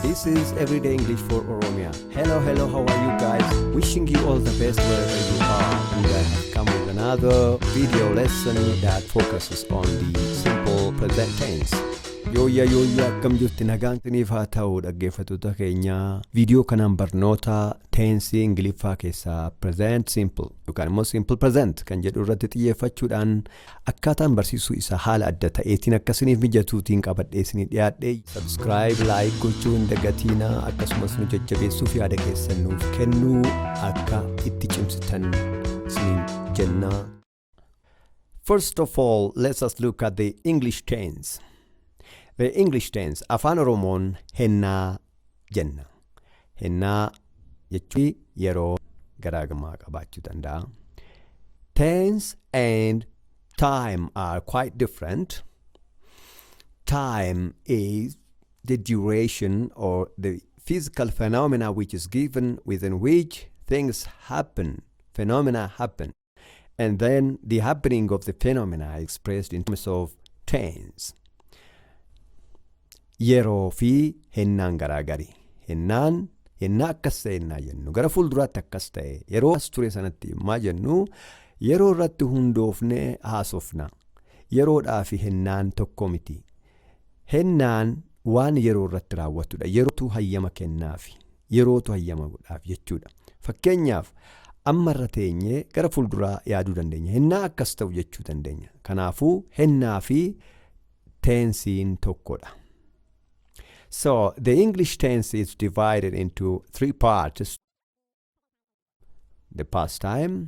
This is Everyday English for Oromia. Hello, hello, how are you guys? Wishing you all the best wherever you are. And I have come with another video lesson that focuses on the simple present tense. Yooyyaa yooyyaa akkam jirti nagaan isiniif haa ta'u dhaggeeffattoota keenya viidiyoo kanaan barnoota teensii ingiliffaa keessaa present simple yookaan immoo simple present kan jedhu irratti xiyyeeffachuudhaan Akkaataan barsiisuu isaa haala adda ta'eetiin akka isiniif mijatuutiin qabadhee isinii dhiyaadhe. Subscribe, like gochuu hin dagatiinaa akkasumas nu jajjabeessuuf yaada keessan nuuf kennuu akka itti cimsitan isiniin jennaa. First of all, let us look at the English tense. The English tense afaan Oromoon hennaa jenna. Hennaa jechuun yeroo garaagarummaa qabaachuu danda'a. Tense and time are quite different. Time is the duration or the physical phenomena which is given within which things happen, phenomena happen. And then the happening of the phenomena expressed in terms of tense. Yeroo fi hennaan garaagari. Hennaan hennaa akkas ta'e hennaa jennu gara fuulduraatti akkas ta'e yeroo as ture sanatti immaa jennu yeroo irratti hundoofne haasofna. Yeroodhaa fi hennaan tokko miti. Hennaan waan yeroo irratti raawwatudha. Yerootu hayyama kennaafi. yerootu hayyama godhaaf jechuudha. Fakkeenyaaf amma irra teenyee gara fuulduraa yaaduu dandeenya. Hennaa akkas ta'u jechuu dandeenya. Kanaafuu hennaa fi teensiin tokkodha. So the English tense is divided into three parts. The past time,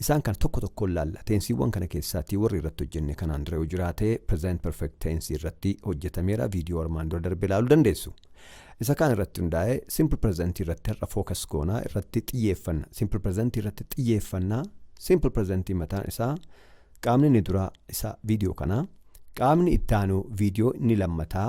Isaan kana tokko tokkoon laalla. Teensiiwwan kana keessaati warri irratti hojjenne kanaan dura yoo jiraate present perfect tense irratti hojjetameera viidiyoo armaan dura darbe ilaaluu dandeessu. Isa kaan irratti hundaa'ee simple present irratti har'a focus goonaa irratti xiyyeeffanna. Simple present irratti xiyyeeffanna. Simple present mataan isaa qaamni inni duraa isa viidiyoo kanaa qaamni itti aanu viidiyoo inni lammataa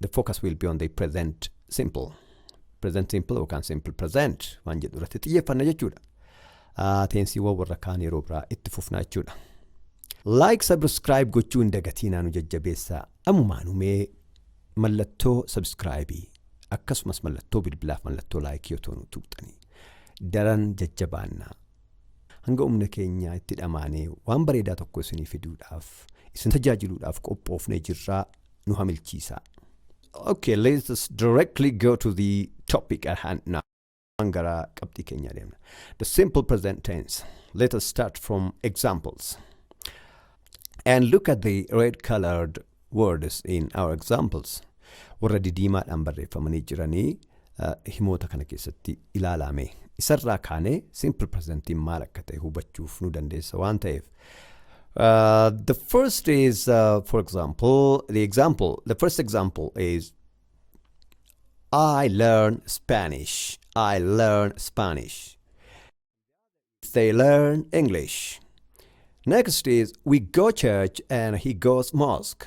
the focus will be on the present simple. Present simple yookaan simple present waan jedhu irratti xiyyeeffanna jechuudha. Ah, Teensiiwwan warra kaan yeroo biraa itti fufna jechuudha. Like subscribe gochuu hin dagatiinaa nu jajjabeessaa. Amumaan umee mallattoo subscribe akkasumas mallattoo bilbilaaf mallattoo like yoo ta'u nu tuqxanii daran jajjabaannaa. hanga humna keenyaa itti dhamaanee waan bareedaa tokko isinii fiduudhaaf isin tajaajiluudhaaf qophoofnee jirraa nu hamilchiisaa. Okay, let us directly go to the topic at hand now. Waan gara qabxii keenya deemna. The simple present tense. Let us start from examples. And look at the red colored words in our examples. Warra didiimaadhaan barreeffamanii jiranii himoota kana keessatti ilaalaa mee. Isarraa kaanee simple presentiin maal akka ta'e hubachuuf nu dandeessa waan ta'eef. Uh, the first is, uh, for example, the example, the first example is I learn Spanish. I learn Spanish. They learn English. Next is we go church and he goes mosque.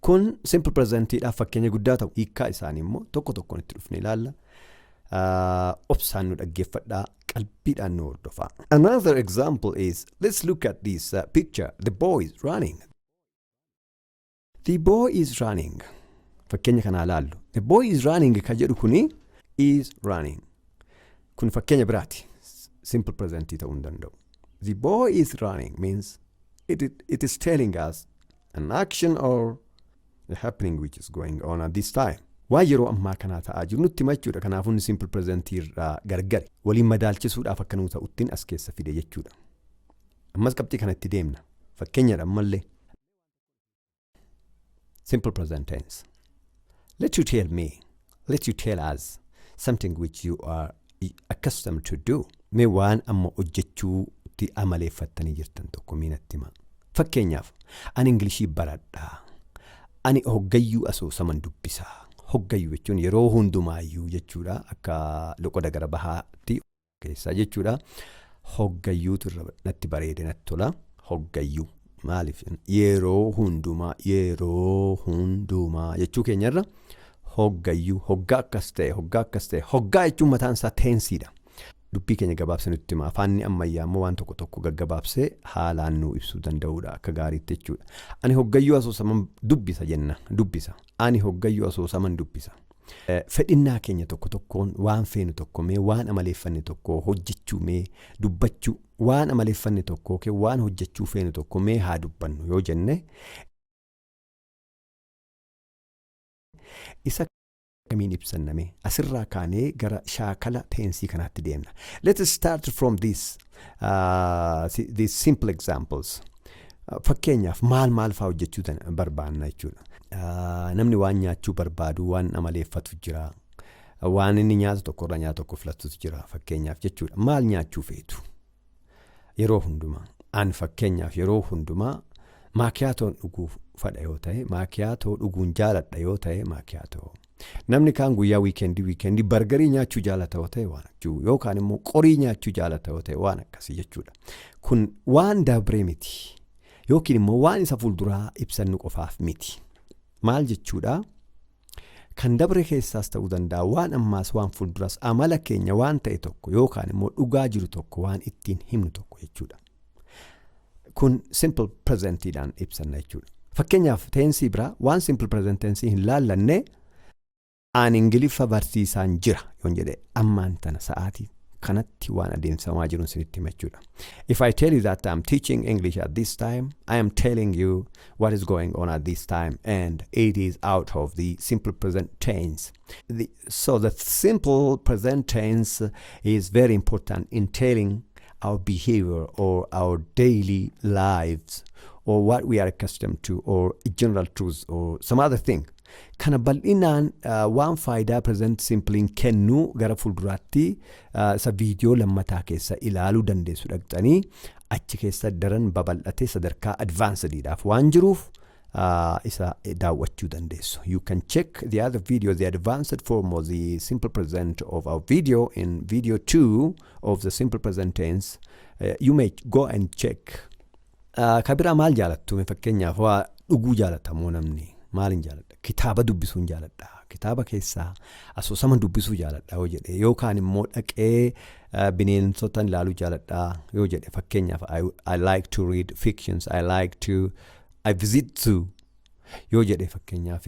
Kun simple presentidhaaf fakkeenya guddaa ta'u. Hiikkaa isaanii immoo tokko tokkoon itti dhufnee ilaalla. Ah, Obsaan nu dhaggeeffadhaa, qalbiidhaan nu hordofaa. Another example is, let's look at this uh, picture. The boy is running. The boy is running. Fakkeenya kanaa ilaallu. The boy is running kan jedhu kuni is running. Kun fakkeenya biraati. S- Simple present ta'uu hin danda'u. The boy is running means it, it, it is telling us an action or a happening which is going on at this time. Waan yeroo ammaa kanaa ta'aa jiru nutti hima jechuudha. Kanaafuu inni simple present irraa gargari. Waliin madaalchisuudhaaf akka nuu ta'uttiin as keessa fide jechuudha. Ammas qabxii kanatti deemna. Fakkeenyadha ammallee. Simple present tense. Let you tell me. Let you tell us something which you are accustomed to do. Mee waan amma hojjechuutti amaleeffattanii jirtan tokko mee natti himaa. Fakkeenyaaf, ani Ingilishii baradha. Ani hoggayyuu asoosaman dubbisa. Hoggayyuu jechuun yeroo hundumaayyuu jechuudha akka loqoda gara bahaatti keessaa jechuudha. Hoggayyuutu irra natti bareede natti tola. Hoggayyuu maaliif yeroo hundumaa yeroo hundumaa jechuu keenyarra hoggayyuu hoggaa akkas ta'e hoggaa akkas ta'e hoggaa jechuun mataan isaa teensiidha. Dubbii keenya gabaabsee nutti hima. Afaanni ammayyaa immoo waan tokko tokko gaggabaabsee haalaan nuu ibsuu danda'uudha akka gaariitti jechuudha. Ani hoggayyuu asoosaman dubbisa jenna dubbisa. Ani hoggayyuu asoosaman dubbisa. Fedhinnaa keenya tokko tokkoon waan feenu tokko mee waan amaleeffanne tokko hojjechuu mee dubbachuu waan amaleeffanne tokko yookiin waan hojjechuu feenu tokko mee haa dubbannu yoo jenne isa kamiin ibsanna mee asirraa kaanee gara shaakala teensii kanaatti deemna. Let's start from this. uh, these simple examples. Uh, Fakkeenyaaf maal maal fa'aa hojjechuu dan- barbaanna jechuudha. Uh, Namni waan nyaachuu barbaadu waan amaleeffatu jira. Uh, Waan inni nyaatu tokko irraa nyaata tokko filatutu jira fakkeenyaaf jechuudha. Maal nyaachuu feetu? Yeroo hundumaa. An fakkeenyaaf yeroo hundumaa maakiyaatoon dhuguu fadha yoo ta'e maakiyaatoo dhuguun jaaladha yoo ta'e maakiyaatoo. Namni kaan guyyaa wiikeendii wiikeendii bargarii nyaachuu jaalata yoo ta'e waan jechuu yookaan immoo qorii nyaachuu jaalata yoo ta'e waan akkasii jechuudha. Kun waan dabree miti yookiin immoo waan isa fuulduraa ibsannu qofaaf miti. Maal jechuudha? Kan dabre keessaas ta'uu danda'a waan ammaas waan fuulduras amala keenya waan ta'e tokko yookaan immoo dhugaa jiru tokko waan ittiin himnu tokko jechuudha. kun simple presentidhaan ibsanna jechuudha. Fakkeenyaaf teensii biraa waan simple present tensii hin laallanne aan ingiliffa barsiisaan jira yoon jedhe ammaan tana sa'aatii kanatti waan adeemsifamaa jiruun sinitti hima jechuudha. If I tell you that I'm teaching English at this time, I am telling you what is going on at this time and it is out of the simple present tense. The So the simple present tense is very important in telling our behavior or our daily lives or what we are accustomed to or general truths or some other thing. Kana bal'inaan uh, waan faayidaa present simpliin kennu gara fuulduraatti uh, isa viidiyoo lammataa keessa ilaaluu dandeessu dhaqxanii achi keessa daran babal'atee sadarkaa advancedidhaaf waan jiruuf uh, isa daawwachuu dandeessu. You can check the other video, the advanced form of the simple present of our video in video 2 of the simple present tense. Uh, you may go and check. Uh, ka biraa maal jaalattu? Mee Fakkeenyaaf waa dhuguu jaalatta moo namni? Maaliin jaaladha? Kitaaba dubbisuun jaaladha. Kitaaba keessaa asoosama dubbisuu jaaladha yoo jedhe yookaan immoo dhaqee uh, bineensota ilaaluu jaaladha yoo jedhe fakkeenyaaf I, I like to read fictions, I like to I visit zoo yoo jedhe fakkeenyaaf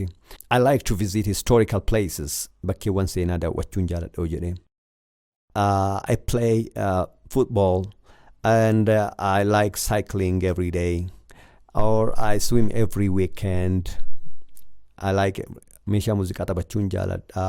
I like to visit historical places bakkeewwan seenaa daawwachuun jaaladha yoo jedhe uh, I play uh, football and uh, I like cycling every day or I swim every weekend I like meeshaa muuziqaa taphachuun jaaladha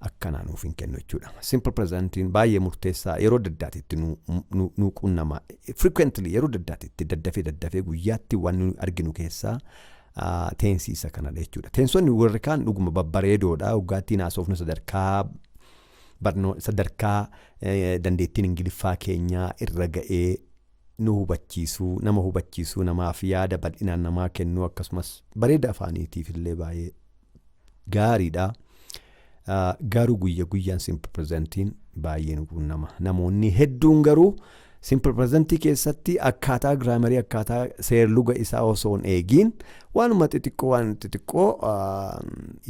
akkanaa nuuf hin kennu jechuudha. Simple present'n baay'ee murteessaa yeroo adda addaati itti nu, nu, nu qunnama. Frequently yeroo adda addaati itti daddafee daddafee guyyaatti waan nu arginu keessaa ah, teensi isa kanadha jechuudha. Teensonni warri kaan dhuguma babbareedoodha. Hoggaattiin haasofnu sadarkaa barnoo sadarkaa eh, dandeettiin ingiliffaa keenyaa irra ga'ee nu hubachiisuu, nama hubachiisuu, namaaf yaada bal'inaan namaa kennuu akkasumas bareeda afaaniitiif illee baay'ee gaariidha. Ah, Garuu guyya guyyaan simple presentiin baay'ee nu quunnama. Namoonni hedduun garuu simple presentii keessatti akkaataa giraamarii akkaataa seerluga isaa osoo hin eegiin Waanuma xixiqqoo waan xixiqqoo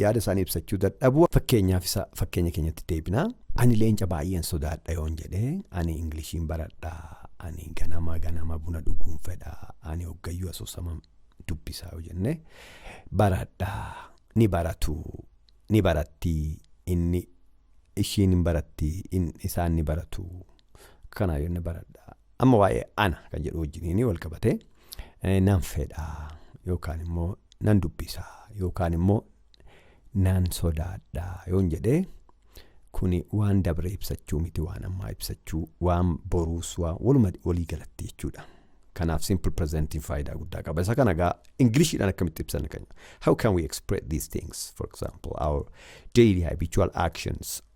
yaada isaanii ibsachuu dadhabu. Fakkeenyaaf isa fakkeenya keenyatti deebina. Ani leenca baay'een sodaadha yoon jedhe ani Ingiliishiin baradha. Ani ganama ganama buna dhuguun fedha. Ani hoggayyuu asoosama dubbisaa yoo jenne baradha. Ni baratu. Ni baratti. Inni ishiin hin baratti. Isaan ni baratu. Kanaa yoon baradha. Amma waa'ee ana kan jedhu wajjiniin wal qabatee nan fedha yookaan immoo nan dubbisa yookaan immoo nan sodaadha yoon jedhee kuni waan dabre ibsachuu miti waan ammaa ibsachuu waan boruus waan waluma walii galatti jechuudha. Kanaaf simple presentiin faayidaa guddaa qaba. Isa kana egaa Ingiliishiidhaan akkamitti ibsan kan How can we express these things? For example, our daily habitual actions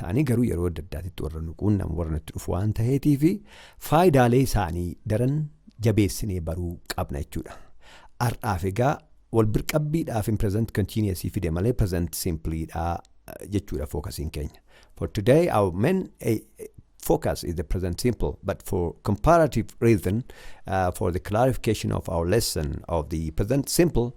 ta'anii garuu yeroo adda addaatitti warra nu quunnamu warra nutti dhufu waan ta'eetii fi faayidaalee isaanii daran jabeessinee baruu qabna jechuudha. Har'aaf egaa wal birqabbiidhaaf hin present continuous fide malee present simply dha eh, jechuudha fookasiin keenya. For today our main eh, focus is the present simple but for comparative reason uh, for the clarification of our lesson of the present simple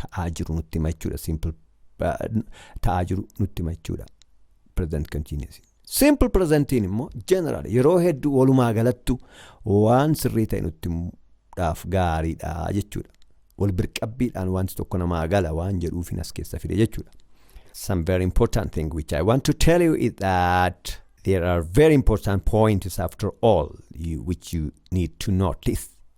ta'aa jiru nutti hima jechuudha. Simple ta'aa jiru nutti hima jechuudha. Present continuous. Simple presentiin immoo general yeroo hedduu walumaa galattu waan sirrii ta'e nutti himuudhaaf gaariidha jechuudha. Wal birqabbiidhaan wanti tokko namaa gala waan jedhuufin as keessa fide jechuudha. Some very important thing which I want to tell you is that there are very important points after all you, which you need to notice.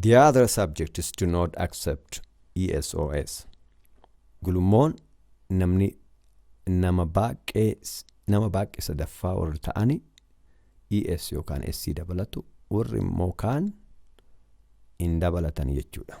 The other subjects do not accept ESOS. Gulummoon namni nama baay'ee nama baay'ee sadaffaa warri ta'ani ES yookaan SC dabalatu warri immoo kaan hin dabalatan jechuudha.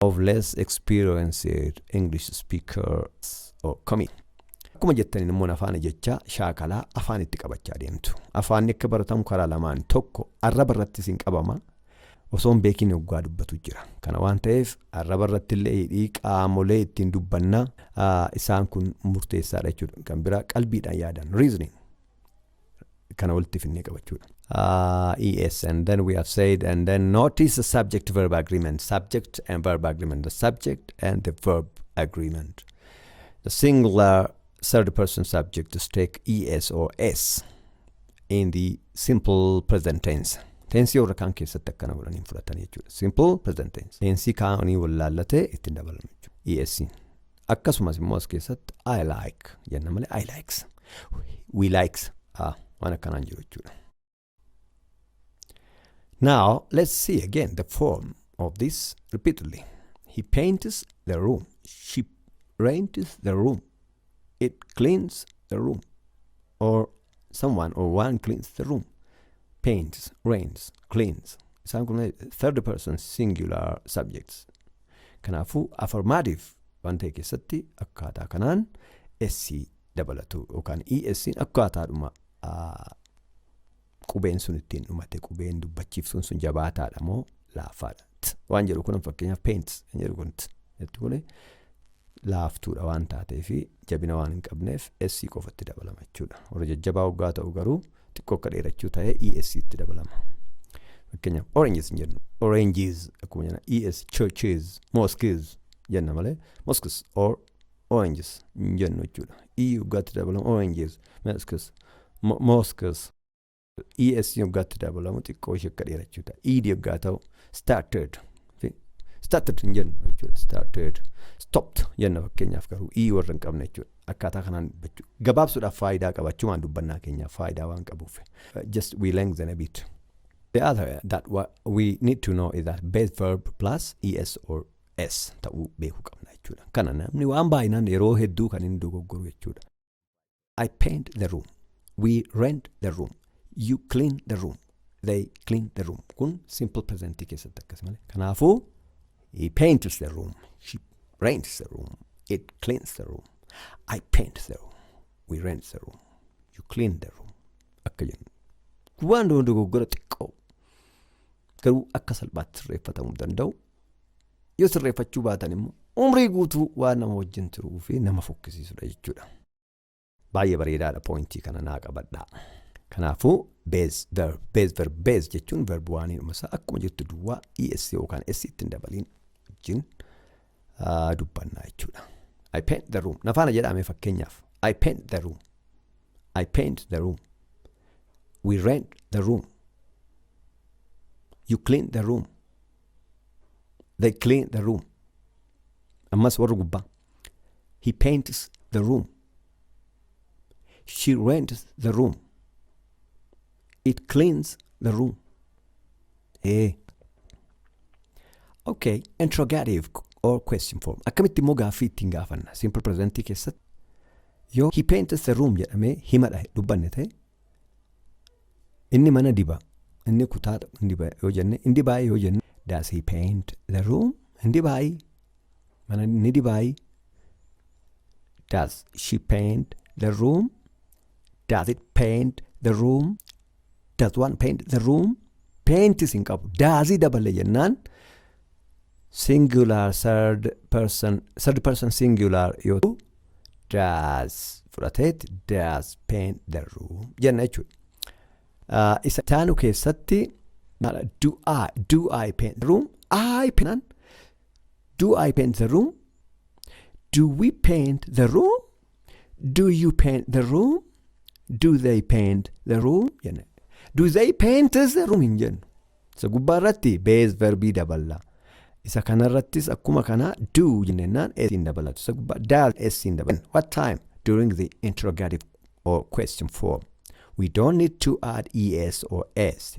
of less experienced English speakers or coming. Akkuma jettaniin immoo afaan jechaa shaakalaa afaan itti qabachaa deemtu. Afaanni akka baratamu karaa lamaan tokko arraba irratti isin qabama. Osoo hin beekin oggaa dubbatu jira. Kana waan ta'eef arraba irratti illee hidhii qaamolee ittiin dubbannaa isaan kun murteessaadha jechuudha. Kan biraa qalbiidhaan yaadan reasoning. kana walitti finnee qabachuudha. Uh, yes, and then we have said, and then notice the subject verb agreement, subject and verb agreement, the subject and the verb agreement. The singular third person subject is take es or s in the simple present tense. Tensii warra kaan keessatti akkana godhanii hin fudhatan jechuudha. Simple present tense. Tensii kaanii wallaallate ittiin dabalame jechuudha. ESC. Akkasumas immoo as keessatti I like jenna malee I likes. We likes. Ah, waan akkanaan jiru jechuudha. Now let's see again the form of this repeatedly. He paints the room. She rents the room. It cleans the room. Or someone or one cleans the room paints rains cleans isaan kun third person singular subjects kanaafuu affirmative waan ta'e keessatti akkaataa kanaan s dabalatu yookaan es akkaataadhuma ah, qubeen sun ittiin dhumate qubeen dubbachiiftuun sun jabaataadha moo laaffaadha. T waan jedhu kun fakkeenyaaf paint kan jedhu kun t jettu kun laaftuudha waan taatee fi jabina waan hin qabneef S qofatti dabalama jechuudha. Warra jajjabaa hoggaa ta'u garuu xiqqoo akka dheerachuu ta'ee ES itti dabalama. Fakkeenyaaf oranges hin jennu. Oranges akkuma jenna ES churches mosques jenna malee mosques or oranges hin jennu jechuudha. E hoggaatti dabalama oranges mosques mosques ES yoggaatti dabalamu xiqqoo ishee akka dheerachuu ta'a. ED yoggaa ta'u started. fi Started hin jennu jechuudha. Started. Stopped jenna fakkeenyaaf garuu E warra hin qabne jechuudha. Akkaataa kanaan dubbachuu. Gabaabsuudhaaf faayidaa qaba. Achumaan dubbannaa keenyaaf faayidaa waan qabuuf. Uh, Just we lengthen a bit. The other that wa- we need to know is that base verb plus ES or S ta'uu beekuu qabna jechuudha. Kana namni waan baay'inaan yeroo hedduu kan inni dogoggoru jechuudha. I paint the room. We rent the room. You clean the room. They clean the room. Kun simple present keessatti akkas malee. Kanaafuu he paints the room. She rents the room. It cleans the room. I paint the room. We rent the room. You clean the room. Akka jennu. Waan dura dogoggora xiqqoo garuu akka salphaatti sirreeffatamuu danda'u. Yoo sirreeffachuu baatan immoo umrii guutuu waan nama wajjin turuu fi nama fokkisiisudha jechuudha. Baay'ee bareedaadha poointii kana naa qabadhaa. Kanaafuu beez verb beez verb beez jechuun verb waanii dhumasaa akkuma jirtu duwwaa es yookaan es ittiin dabaliin wajjin ah, dubbannaa jechuudha. I paint the room. Nafaana jedhame fakkeenyaaf. I paint the room. I paint the room. We rent the room. You clean the room. They clean the room. Ammas warri gubbaa. He paints the room. She rents the room. It cleans the room. Ee. Okay, interrogative or question form. Akkamitti immoo gaaffii ittiin gaafanna? Simple present keessatti yoo he paints the room jedhamee himadha dubbanne ta'e Inni mana diba. Inni kutaa hin diba yoo jenne hin dibaayi yoo jenne. Does he paint the room? Hin dibaayi. Mana ni dibaayi. Does she paint the room? Does it paint the room? Does one paint the room? Paintis hin qabu. Daazii dabale jennaan singular third person third person singular yoo ta'u does fudhateet does paint the room jenna jechuudha. Ah, Isa taanu keessatti maala do I do I paint the room I paint do I paint the room do we paint the room Do you paint the room? Do they paint the room? jenna. Do they paint the room hin jennu. Isa gubbaa irratti base verbii daballa. Isa kanarrattis akkuma kana do jennaan s hin dabalatu. Isa gubbaa does s hin dabalatu. What time? During the interrogative or question form. We don't need to add es or s.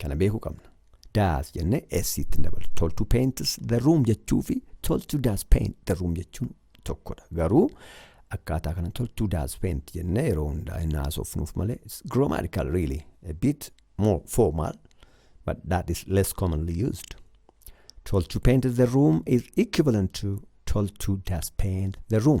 Kana beekuu qabna. Daas jennee S ittiin daballu. Toltu paints the room jechuu fi toltu daas paint the room jechuun tokkodha. Garuu akkaataa kana toltu daas paint jennee yeroo hundaa hin haasofnuuf malee it's grammatical really a bit more formal but that is less commonly used. Toltu paint the room is equivalent to toltu daas paint the room.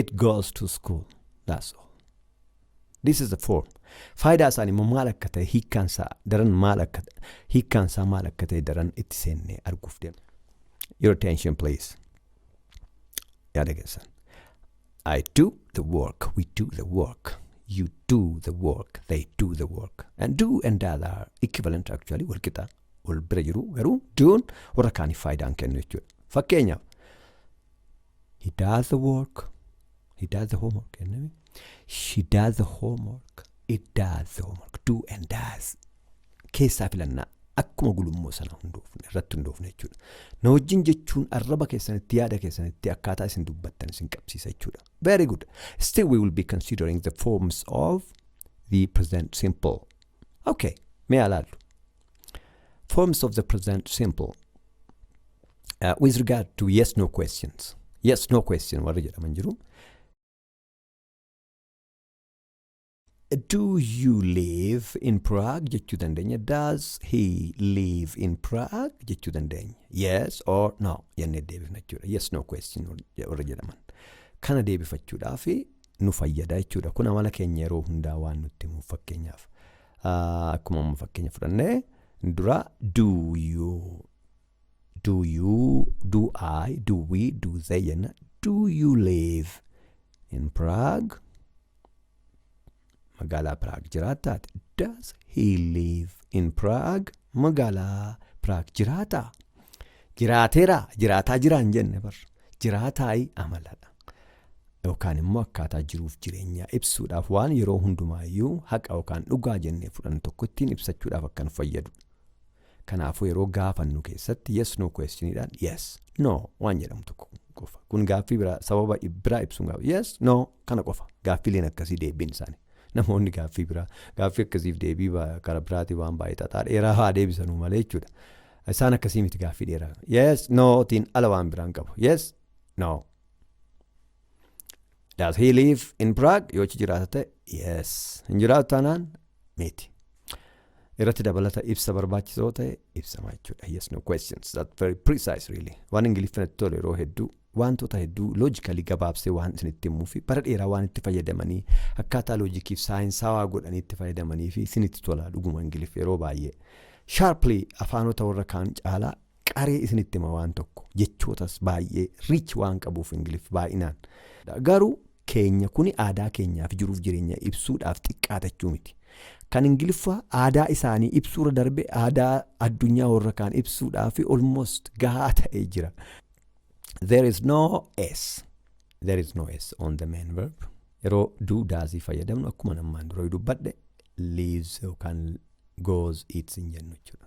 it goes to school that's all this is the form faayidaa isaanii immoo maal akka ta'e hiikkaan isaa daran maal akka hiikkaan isaa maal akka ta'e daran itti seennee arguuf deema your attention please yaada keessan I do the work, we do the work, you do the work, they do the work. And do and that are equivalent actually, wal qixa, wal bira jiru garuu doon warra kaaniif faayidaa hin kennu jechuudha. Fakkeenyaaf, He does the work. He does the homework. jennaan She does the homework. It does the homework. Do and does. Keessaa filannaa. Akkuma gulummoo sana hundoofne irratti hundoofne jechuudha. Na wajjin jechuun arraba keessanitti yaada keessanitti akkaataa isin dubbattan isin qabsiisa jechuudha. Very good. Still we will be considering the forms of the present simple. Okay. Mee alaallu. Forms of the present simple. Uh, with regard to yes no questions. Yes no question warri jedhaman jiru. Do you live in Prague jechuu dandeenya. Does he live in Prague jechuu dandeenya. Yes or no jennee deebifna jechuudha. Yes no question warri jedhaman. Kana deebifachuudhaaf nu fayyada jechuudha. Kun amala keenya yeroo hundaa waan nutti himuuf fakkeenyaaf. Ah, akkuma amma fakkeenya fudhanne dura do you do you do I do we do they jenna do you live in Prague magaalaa Prague jiraattaati does he live in Prague magaalaa Prague jiraataa jiraateera jiraataa jiraan jenne bar jiraataayi amaladha yookaan immoo akkaataa jiruuf jireenyaa ibsuudhaaf waan yeroo hundumaayyuu haqa yookaan dhugaa jennee fudhannu tokko ittiin ibsachuudhaaf akka nu fayyadu. Kanaafuu yeroo gaafannu keessatti yes no questionidhaan yes no waan jedhamu tokko qofa. Kun gaaffii biraa sababa biraa ibsuun gaafa yes no kana qofa. Gaaffiileen akkasii deebiin isaanii. Namoonni gaaffii biraa gaaffii akkasiif deebii karaa biraatii waan baay'ee xaxaa dheeraa haa deebisanuu malee jechuudha. Isaan akkasii miti gaaffii dheeraa. Yes no tiin ala waan biraan qabu. Yes No. Does he live in Prague? Yoo achi jiraata ta'e yes. Hin jiraatu taanaan miti. Irratti dabalata ibsa barbaachisoo ta'e ibsama jechuudha. Yes, no questions. That's very precise really. Waan Ingiliffaan itti tolu yeroo hedduu wantoota hedduu loojikali gabaabsee waan isinitti himuu fi bara dheeraa waan itti fayyadamanii akkaataa loojikiif saayinsaawaa godhanii itti fayyadamanii fi isinitti tola dhuguma Ingiliffa yeroo baay'ee. Sharply afaanota warra kaan caalaa Qaree isinitti hima waan tokko jechootas baay'ee rich waan qabuuf ingilif baay'inaan. Garuu keenya kuni aadaa keenyaa fi jiruuf jireenya ibsuudhaaf xiqqaata jechuu miti. Kan ingiliffaa aadaa isaanii ibsuurra darbe aadaa addunyaa warra kaan ibsuudhaaf almost gahaa ta'ee jira. There is no S. There is no S on the main verb. Yeroo do does fayyadamnu akkuma namaan dura dubbadhe leaves yookaan goes eats hin jennu jechuudha.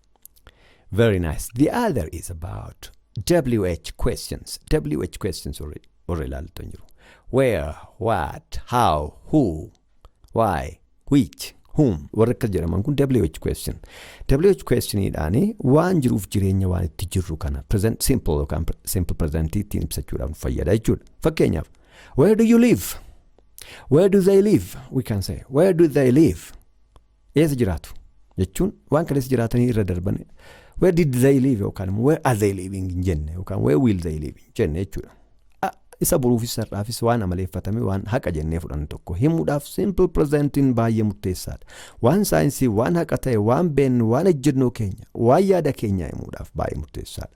Very nice. The other is about WH questions. WH questions warri warri ilaaltu hin jiru. Where, what, how, who, why, which, whom warri akkas jedhaman kun WH question. WH questioniidhaan waan jiruuf jireenya waan itti jirru kana present simple yookaan pre- simple present ittiin ibsachuudhaaf nu fayyada jechuudha. Fakkeenyaaf where do you live? Where do they live? We can say where do they live? Eessa jiraatu? Jechuun waan kaleessa jiraatanii irra darban where did they live yookaan immoo where are they living hin jenne yookaan where will they live hin jenne jechuudha. A- Isa boruufis har'aafis waan amaleeffatame waan haqa jennee fudhannu tokko himuudhaaf simple presentiin baay'ee murteessaadha. Waan saayinsii, waan haqa ta'e, waan beennu, waan ejjennoo keenya, waan yaada keenyaa himuudhaaf baay'ee murteessaadha.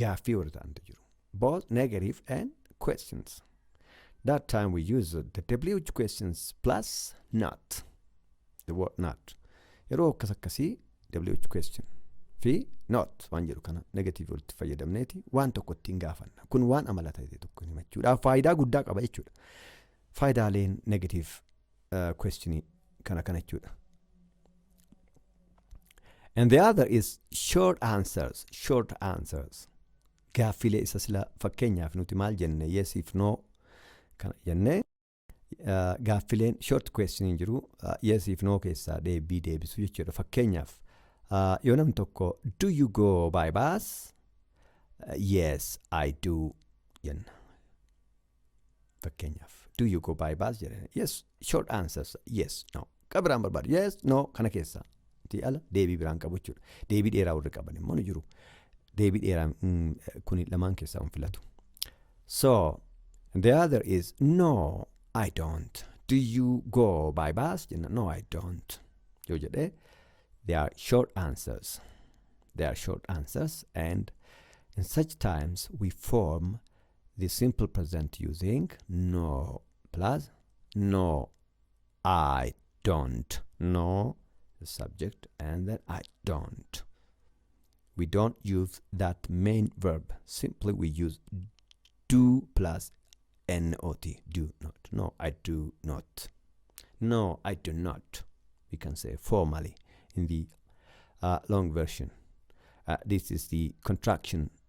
gaaffii warri ta'antu jiru. Both negative and questions. That time we use the WH questions plus not. The word not. Yeroo akkas akkasii WH question fi not waan jedhu kana negative walitti fayyadamneeti waan tokko ittiin gaafanna. Kun waan amala ta'e tokko himachuudhaaf faayidaa guddaa qaba jechuudha. Faayidaaleen negative question kana kana jechuudha. And the other is short answers, short answers. Gaaffilee isa sila fakkeenyaaf nuti maal jenne yes if no kana jenne uh, gaaffileen short question hin jiru uh, yes if no keessaa deebii deebisu jechuudha fakkeenyaaf uh, yoo namni tokko do you go by bus uh, yes I do jenna Fakkeenyaaf, do you go by bus jedhanii yes short answers yes no kan biraan barbaadu yes no kana keessa ti ala deebii biraan qabu jechuudha. Deebii dheeraa warri qaban immoo ni jiru. Deebii dheeraa kun lamaan keessaa hin filatu. So the other is no I don't. Do you go by bus? Jenna no I don't. Yoo jedhee they are short answers. They are short answers and in such times we form the simple present using no plus no I don't no the subject and then I don't we don't use that main verb simply we use do plus not do not no I do not no I do not we can say formally in the uh, long version uh, this is the contraction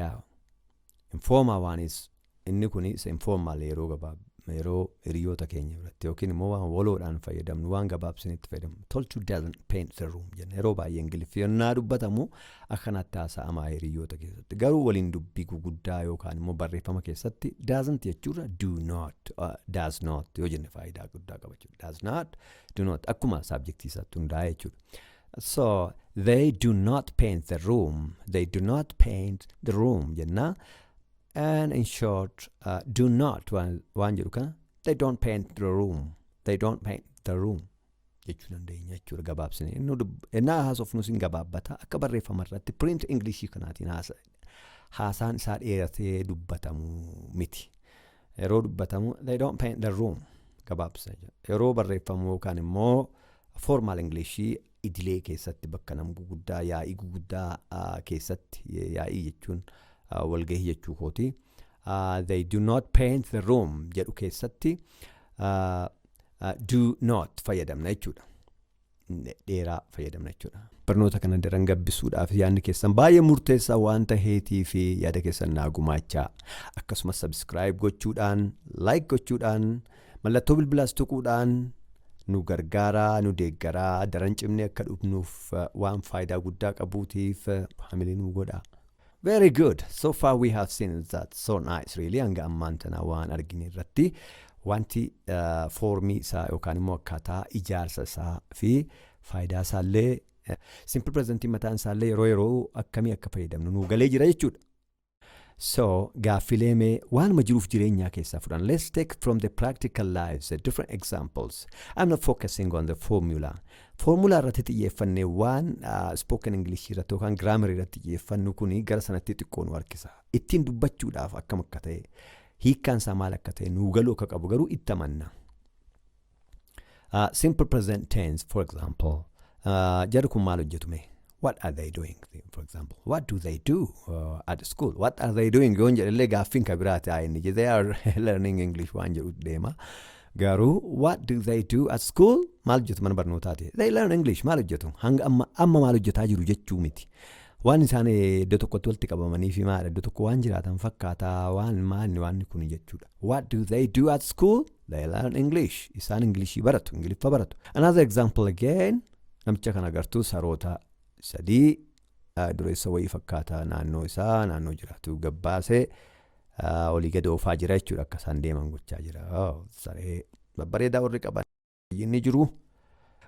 yaa infoomaa waanis inni kun isa infoomaal yeroo gabaab yeroo hiriyoota keenya biratti yookiin immoo waan waloodhaan fayyadamnu waan gabaabsinitti fayyadamnu tolchuu doesn't paint the room jenna yeroo baay'ee ingiliffi yennaa dubbatamu akkanatti haasa'amaa hiriyoota keessatti garuu waliin dubbii guguddaa yookaan immoo barreeffama keessatti doesn't jechuurra do not uh, does not yoo jenne faayidaa guddaa qaba jechuudha does not do not akkuma saabjektii isaatti hundaa'e jechuudha So they do not paint the room. They do not paint the room jenna. And in short, uh, do not waan waan jedhu kana they don't paint the room. They don't paint the room jechuu dandeenya jechuudha gabaabsine. Inni dub- Ennaa haasofnus hin gabaabbata akka barreeffama irratti print English kanaatiin haasa haasaan isaa dheeratee dubbatamu miti. yeroo dubbatamu they don't paint the room gabaabsa yeroo barreeffamu yookaan immoo formal English idilee keessatti bakka nam guguddaa yaa'ii guguddaa keessatti yaa'ii jechuun walgahii jechuu kooti. They do not paint the room jedhu keessatti do not fayyadamna jechuudha. dheeraa fayyadamna jechuudha. Barnoota kana daran gabbisuudhaaf yaadni keessan baay'ee murteessaa waan ta'eetii fi yaada keessan naa gumaachaa akkasumas sabiskiraayib gochuudhaan laayik gochuudhaan mallattoo bilbilaas tuquudhaan nu gargaaraa nu deeggaraa daran cimnee akka dhufnuuf waan faayidaa guddaa qabuutiif hamilee nu godhaa. Very good. So far we have seen is that so nice really hanga ammaan tana waan argine irratti wanti uh, foormii isaa yookaan immoo akkaataa ijaarsa isaa fi faayidaa isaa illee simple presentii mataan isaa illee yeroo yeroo akkamii akka fayyadamnu nuu galee jira jechuudha. So gaaffilee mee waanuma jiruuf jireenyaa keessaa fudhan. Let's take from the practical lives uh, different examples. I'm not focusing on the formula. Foormulaa irratti xiyyeeffanne waan spoken English irratti yookaan grammar irratti xiyyeeffannu kun gara sanatti xiqqoo nu harkisa. Ittiin dubbachuudhaaf akkam akka ta'e, hiikkaan isaa maal akka ta'e nuu galuu akka qabu garuu itti amanna. Uh, simple present tense for example uh, jarri kun maal hojjetu mee what are they doing for example what do they do uh, at school what are they doing yoon jedhellee gaaffiin ka biraati haa inni they are learning english waan jedhu deema garuu what do they do at school maal hojjetu mana barnootaati they learn english maal hojjetu hanga amma amma maal hojjetaa jiru jechuu miti waan isaan iddoo tokkotti walitti qabamanii fi maadha iddoo tokko waan jiraatan fakkaataa waan maanni waan kun jechuudha what do they do at school they learn english isaan ingilishii baratu ingiliffa baratu another example again Namicha kana agartuu saroota sadii dureessa wayii fakkaataa naannoo isaa naannoo jiraatu gabbaasee olii gad oofaa jira jechuudha akka isaan deeman gochaa jira. Saree babbareedaa warri qaban inni jiru.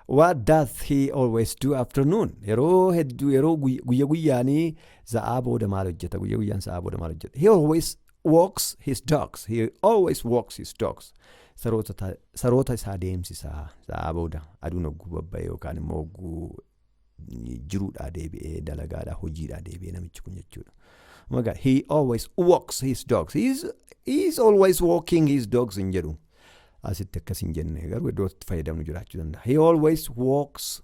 What does he always do afternoon? Yeroo hedduu yeroo guyya guyyaanii sa'aa booda maal hojjeta? Guyya guyyaan sa'aa booda maal hojjeta? He always walks his dogs. He always walks his dogs. Saroota ta- saroota isaa deemsisa. Sa'aa booda aduun hogguu babba'ee yookaan immoo hogguu jiruudhaa deebi'ee dalagaadhaa hojiidhaa deebi'ee namichi kun jechuudha. Oh my God, he always walks his dogs. He is, he is always walking his dogs hin jedhu. Asitti akkas hin jenne garuu iddoo itti fayyadamnu jiraachuu danda'a. He always walks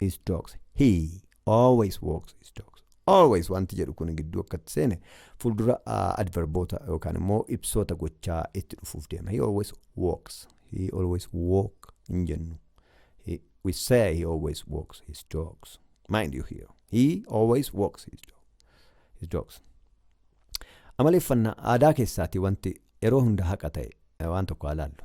is dogs. He always walks is dogs. Always wanti jedhu kun gidduu akkatti seene fuuldura uh, adverboota yookaan immoo ibsoota gochaa itti dhufuuf deema. He always walks. He always walk hin jennu. He, we say he always walks his dogs. Mind you here. He always walks his, dog, his dogs. Amaleeffannaa aadaa keessaati wanti yeroo hunda haqa ta'e eh, waan tokko haa laallu.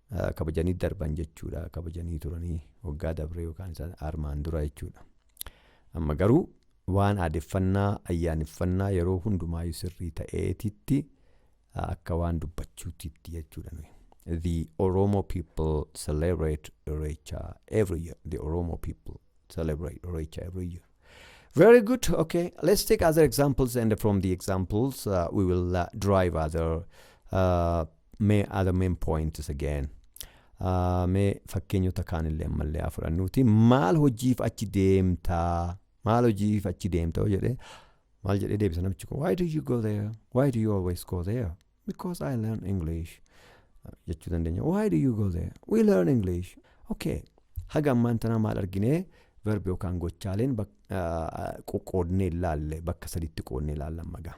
kabajanii darban jechuudha. Kabajanii turanii waggaa dabree yookaan isaan armaan dura jechuudha. Amma garuu waan aadeffannaa ayyaaneffannaa yeroo hundumaayyuu sirrii ta'eetitti akka waan dubbachuutitti jechuudha nuyi. The Oromo people celebrate Irreecha every year. The Oromo people celebrate Irreecha every year. Very good. Okay, let's take other examples, and from the examples, uh, we will uh, derive other uh, main, other main points again. Uh, mee fakkeenyota kaanillee ammallee haa fudhannuuti maal hojiif achi deemtaa maal hojiif achi deemta yoo jedhe maal jedhee deebisa namichi kun why do you go there why do you always go there Because I learn English jechuu dandeenya. Why do you go there? We learn English. Okay. Haga ammaan tanaa maal arginee verbi yookaan gochaaleen qoqqoodnee ilaalle bakka sadiitti qoodnee ilaalla magaa.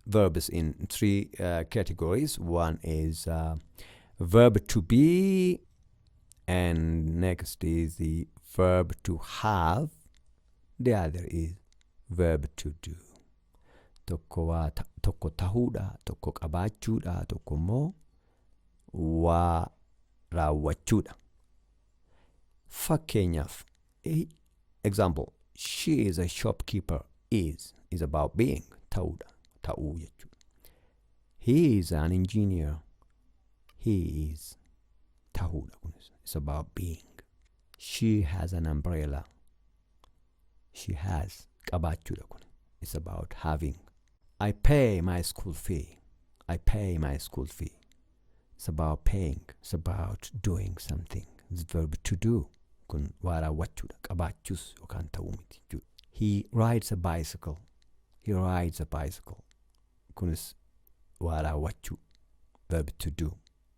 Verbs in three uh, categories. One is uh, verb to be, and next is the verb to have, The other is verb to do. Tokko waa ta- tokko tahuudha, tokko qabaachuudha, tokko immoo waa raawwachuudha. Fakkeenyaaf, he- example, she is a shopkeeper is is about being ta'uudha, ta'uu jechuudha. He is an engineer. He is ta'uudha kunis. It's about being. She has an umbrella. She has qabaachuudha kun. It's about having. I pay my school fee. I pay my school fee. It's about paying. It's about doing something. It's verb to do. Kun waa raawwachuudha. Qabaachuus yookaan ta'uu miti jechuudha. He rides a bicycle. He rides a bicycle. Kunis waa raawwachuu. Verb to do.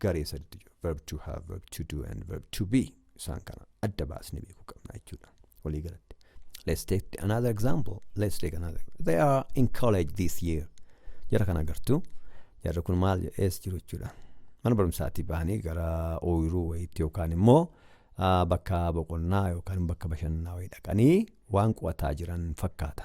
garee sadiitu jira. Verb to have, verb to do and verb to be. Isaan kana adda baasnee beekuu qabna jechuudha. Walii galatti. Let's take another example. Let's take another. They are in college this year. Jara kana agartu. Jarri kun maal ees jiru jechuudha. Mana barumsaatii bahanii gara ooyiruu wayiitti yookaan immoo ah, bakka boqonnaa yookaan bakka bashannanaa wayii dhaqanii waan qo'ataa jiran fakkaata.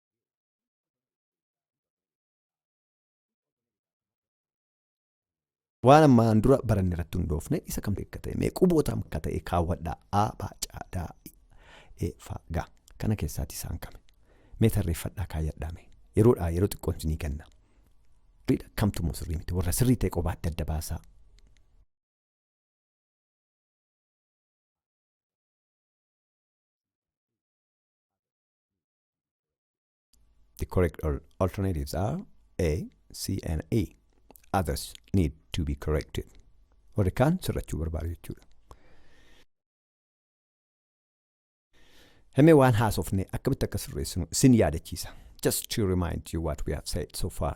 Waan ammaan dura baranne irratti hundoofne isa kam akka ta'e mee quboota akka ta'e kaawwadhaa a baacaa daa e fa ga kana keessaati isaan kame mee tarreeffadhaa kaayyadhaa mee yeroodhaa yeroo xiqqoon isinii kenna riidha kamtu moo sirrii miti warra sirrii ta'e qobaa adda adda baasaa The correct alternatives are A, C and E. Others need to be corrected. Warri kaan sirrachuu barbaadu jechuudha. Himee waan haasofne akkamitti akka sirreessinu sin yaadachiisa. Just to remind you what we have said so far.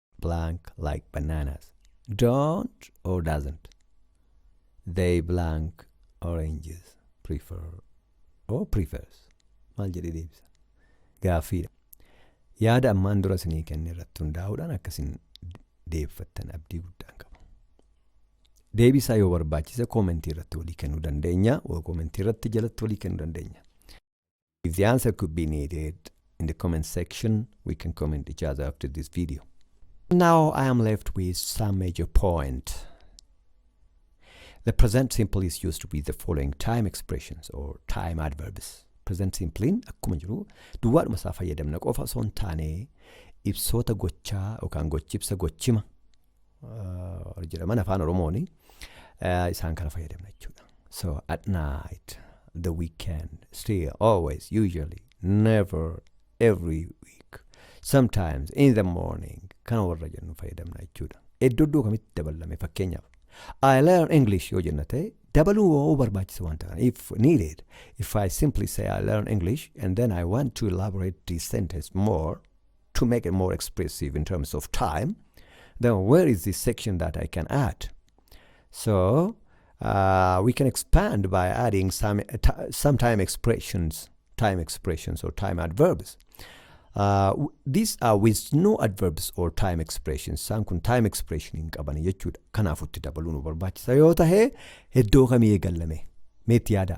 blank like bananas don't or doesn't they blank oranges prefer or prefers maal jedhee deebisa gaaffiidha yaada ammaan dura isinii kenne irratti hundaa'uudhaan akkasin deebfattan abdii guddaan qaba deebisaa yoo barbaachise koomentii irratti walii kennuu dandeenya koomentii irratti jalatti walii kennuu dandeenya If the answer could be needed in the comment section, we can comment each other after this video. Now I am left with some major point. The present simple is used with the following time expressions or time adverbs. Present simple'n akkuma jiru duwwaadhuma isaa fayyadamna qofa osoo hin taane ibsoota gochaa yookaan gochibsa gochima uh, jedhaman afaan oromoon uh, isaan kana fayyadamna jechuudha so at night the weekend still always usually never every week sometimes in the morning kana warra jennu fayyadamna jechuudha iddoo iddoo kamitti dabalame fakkeenyaaf I learn English yoo jenna ta'e dabaluu yoo barbaachisa waan ta'an if needed if I simply say I learn English and then I want to elaborate this sentence more to make it more expressive in terms of time, then where is this section that I can add? So uh, we can expand by adding some, uh, some time expressions, time expressions or time adverbs. Uh, these are with no adverbs or time expressions. Isaan kun time expression hin qaban jechuudha. Kanaaf itti dabaluu nu barbaachisa yoo tahe iddoo kamii eegallame meetti yaadaa?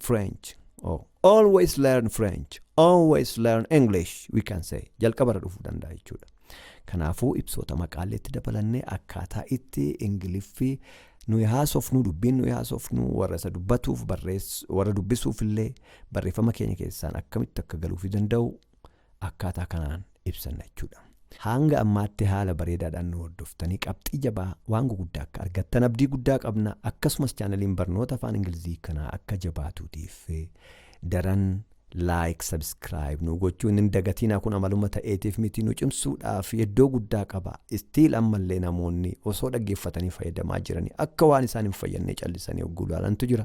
French. Oh. Always learn French. Always learn English. We can say. Jalqabarra dhufuu danda'a jechuudha. Kanaafuu ibsoota maqaalee itti dabalannee akkaataa itti Ingiliffi nuyi haasofnu dubbiin nuyi haasofnu warra isa dubbatuuf barreess warra dubbisuuf illee barreeffama keenya keessaan akkamitti akka galuufi danda'u akkaataa kanaan ibsanna jechuudha. Hanga ammaatti haala bareedaadhaan nu hordoftanii qabxii jabaa waan guguddaa akka argattan abdii guddaa qabna. Akkasumas chaanaliin barnoota afaan Ingilizii kanaa akka jabaatuutiif daran like, subscribe nu gochuun hin dagatinaa kun amaluma ta'eetiif miti nu cimsuudhaaf iddoo guddaa qaba. Still ammallee namoonni osoo dhaggeeffatanii fayyadamaa jiranii akka waan isaan hin fayyannee callisanii hogguu ilaalantu jira.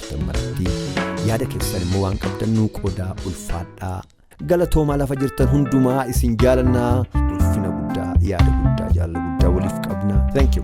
Dammaratti yaada keessan immoo waan qabdan nuu qoodaa ulfaadhaa. Galatoomaa lafa jirtan hundumaa isin jaalannaa ulfina guddaa yaada guddaa jaalala guddaa waliif qabna. Thank you.